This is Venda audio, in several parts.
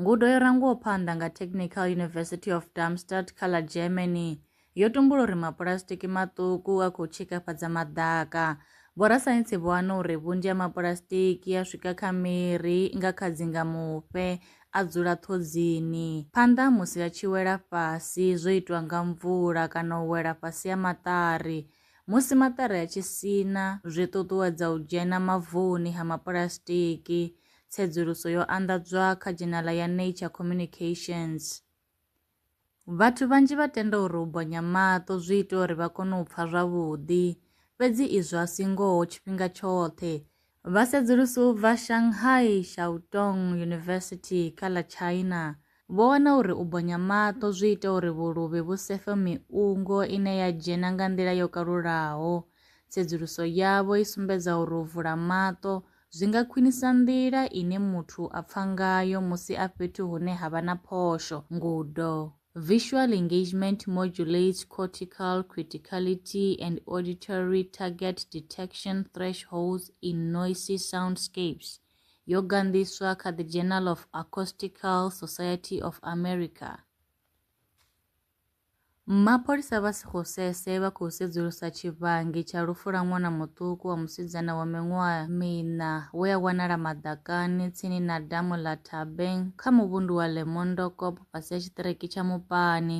Ngudo yo rangiwaho phanḓa nga Technical University of Darmstadt kha ḽa Germany yo tumbula uri mapulasitiki maṱuku a khou tshikafhadza maḓaka. Vhorasaintsi vho wana uri vhunzhi ha mapulasitiki a swika kha miri nga kha dzingamufhe a dzula ṱhodzini. Phanḓa musi a tshi wela fhasi zwo itwa nga mvula kana u wela fhasi ha maṱari. Musi maṱari a tshi sina zwi ṱuṱuwedza u dzhena mavuni ha mapulasitiki. tsedzuluso yo anḓadzwa kha dzhenala ya Nature Communications. Vhathu vhanzhi vha tenda uri u bonya maṱo zwi ita uri vha kone u pfa zwavhuḓi, fhedzi izwo a si ngoho tshifhinga tshoṱhe. Vhasedzulusi u bva Shanghai Shuoyang University kha ḽa China Vho wana uri u bonya maṱo zwi ita uri vhuluvhi vhu sefe miungo ine ya dzhena nga nḓila yo kalulaho. Tsedzuluso yavho i sumbedza uri u vula maṱo zwi nga khwinisa nḓila ine muthu a pfa ngayo musi a fhethu hune ha vha na phosho. Ngudo. Visual engagement modulates cortical criticality and auditory target detection thresholds in noisy soundscapes. yo ganḓiswa kha The Journal of Acoustical Society of America. Mapholisa vha Sekgosese vha khou sedzulusa tshivhangi tsha lufu lwa ṅwana muṱuku wa musidzana wa miṅwaha miṋa we a wanala maḓakani tsini na damu ḽa Thabeng kha muvhundu wa Lemondokop fhasi ha tshiṱireki tsha Mupani.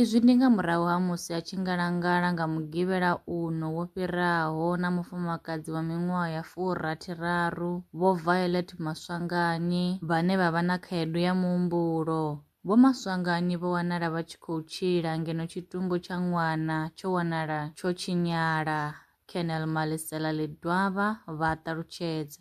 Izwi ndi nga murahu ha musi a tshi ngalangala nga Mugivhela uno wo fhiraho na mufumakadzi wa miṅwaha ya furathiraru, Vho Violet Maswanganyi, vhane vha vha na khaedu ya muhumbulo. Vho Maswanganyi vho wanala vha tshi khou tshila ngeno tshitumbu tsha ṅwana tsho wanala tsho tshinyala, Colonel Malisela Ledwaba vha ṱalutshedza.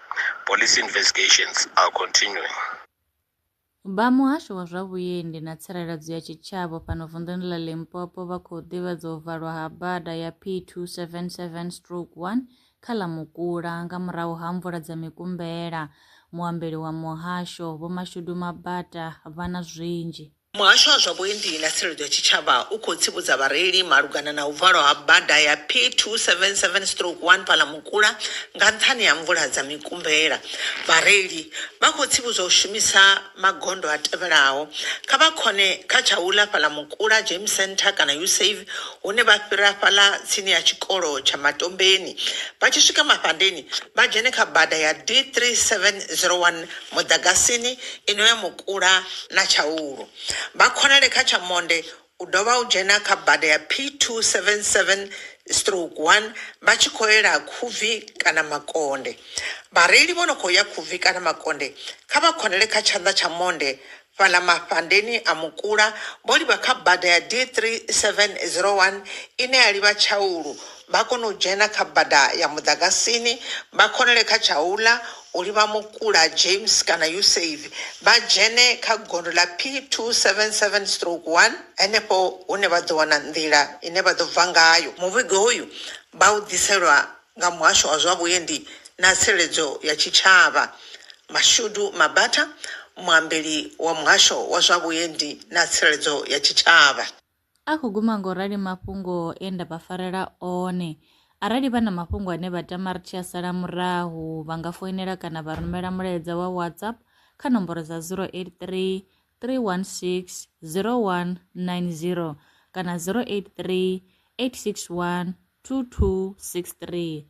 Police investigations are continuing. Vha Muhasho wa zwa Vhuendi na Tsireledzo ya Tshitshavha fhano vunḓuni ḽa Limpopo vha khou ḓivhadza u valwa ha bada ya P277 stroke 1 kha ḽa Mukula nga murahu ha mvula dza mikumbela. Muambeli wa muhasho, Vho Mashudu Mabata, vha na zwinzhi. Muhasho wa zwa Vhuendi na Tsireledzo ya Tshitshavha u khou tsivhudza vhareili malugana na u valwa ha bada ya P277 stroke 1 Phalamukula nga nṱhani ha mvula dza mikumbela. Vhareili vha khou tsivhudzwa u shumisa magondo a tevhelaho, Kha vha khone kha tsha u ḽa Phalamukula Game Centre kana Usave hune vha fhira fhaḽa tsini ha tshikolo tsha Matombeni. Vha tshi swika Mafhandeni vha dzhene kha bada ya D3701 Muḓagasini i no ya kula na Tshaulu. Vha khonale kha tsha monde u dovha u dzhena kha bada ya P277 stroke 1 vha tshi khou yela Khubvi kana Makonde. Vhareili vho no khou ya Khubvi kana Makonde kha vha khonale kha tshanḓa tsha monde fhaḽa mafhandeni a Mukula vho livha kha bada ya D3701 ine ya livha Tshaulu vha kona u dzhena kha bada ya Muḓagasini vha khonale kha Tshaula uri vha Mukula, James kana Yuseivi vha dzhene kha gondo ḽa P277 stroke 1, henefho hune vha ḓo wana nḓila ine vha ḓo bva ngayo. Muvhigo uyu vha u ḓiselwa nga Muhasho wa zwa Vhuendi na Tsireledzo ya Tshitshavha. Mashudu Mabatha, muambeli wa Muhasho wa zwa Vhuendi na Tsireledzo ya Tshitshavha. A khou guma nga u rali mafhungo e nda vha farela one. Arali vha na mafhungo ane vha tama ri tshi a sala murahu, vha nga foinela kana vha rumela mulaedza wa WhatsApp kha nomboro dza 083 316 0190 kana 083 861 2263.